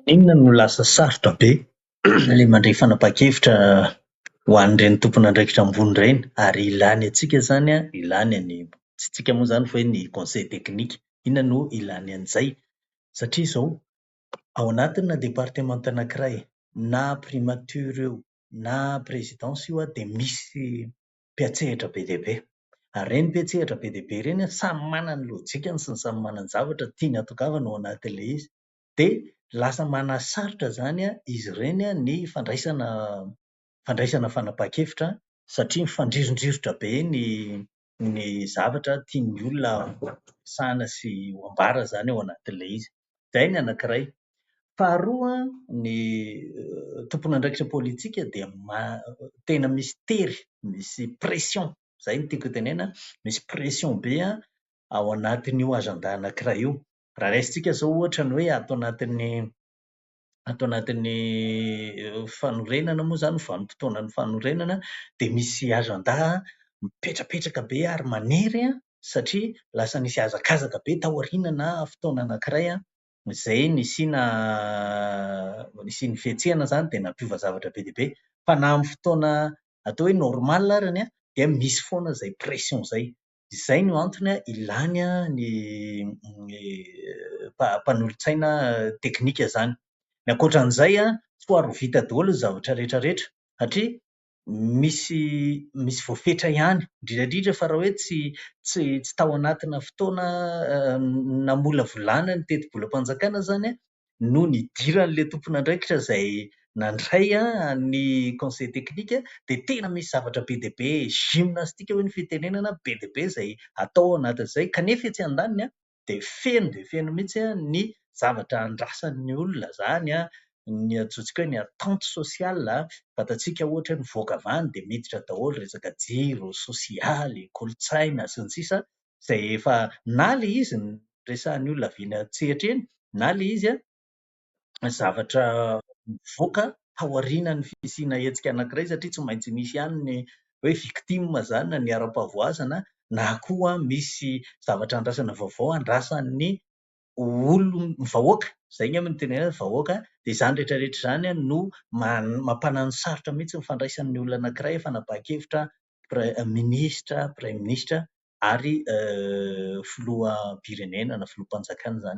Maninona no lasa sarotra be ilay mandray fanapahan-kevitra ho an'ireny tompon'andraikitra ambony ireny ary ilàny antsika izany an, ilàny an'i, tsy antsika moa izany fa hoe ny conseil technique. Inona no ilàny an'izay? Satria izao, ao anatinà departemanta anankiray, na primatiora eo na présidence io an, dia misy mpiantsehatra be dia be. Ary ireny mpiantsehatra be dia be ireny samy manana ny lojikany sy ny samy manana ny zavatra tiany hatongavana ao anatin'ilay izy. Dia lasa manasarotra izany izy ireny ny fandraisana fandraisana fanapahan-kevitra satria mifandrirodrirotra be ny ny zavatra tian'ny olona ho resahina sy ho ambara izany ao anatin'ilay izy. Izay ny anankiray. Faharoa, ny tompon'andraikitra politika dia tena misy tery, misy pression, izay no tiako hotenenana, misy pression be ao anatin'io agenda anankiray io. Raha raisintsika izao ohatra ny hoe ato anatin'ny ato anatin'ny fanorenana moa izany, vanim-potoanan'ny fanorenana, dia misy ajandà mipetrapetraka be ary manery satria lasa nisy hazakazaka be tao aoriana na fotoana anankiray izay nisiana nisian'ny fihetsehana izany dia nampiova zavatra be dia be. Fa na amin'ny fotoana atao hoe normal ary dia misy foana izay pression izay. izay no antony ilany ny mpanolotsaina teknika izany. Ny ankoatra an'izay, tsy ho ary ho vita daholo ny zavatra rehetra rehetra satria misy misy voafetra ihany, indrindra indrindra fa raha hoe tsy tsy tsy tao anatina fotoana namolavolana ny tetibolam-panjakana izany no nidiran'ilay tompon'andraikitra izay nandray ny conseil technique dia tena misy zavatra be dia be gymnastique hoy ny fitenenana be dia be izay atao ao anatin'izay kanefa etsy andaniny dia feno dia feno mihitsy ny zavatra andrasan'ny olona izany ny antsointsika hoe ny attente sociale, fantatsika ohatra hoe mivoaka avy any dia miditra daholo resaka jiro, sosialy, kolontsaina sy ny sisa izay efa na ilay izy resahin'ny olona avy eny an-tsehatra eny na ilay izy zavatra mivoaka taorianan'ny fisiana hetsika anankiray satria tsy maintsy misy ihany ny hoe victime izany na ny ara-pahavoazana na koa misy zavatra andrasana vaovao andrasan'ny olon- ny vahoaka. Izay angamba no tena hoe vahoaka dia izany rehetra rehetra izany no ma- mampanano sarotra mihitsy ny fandraisan'ny olona anankiray fanapahan-kevitra minisitra, praiminisitra ary filoham-pirenena na filoham-panjakana izany.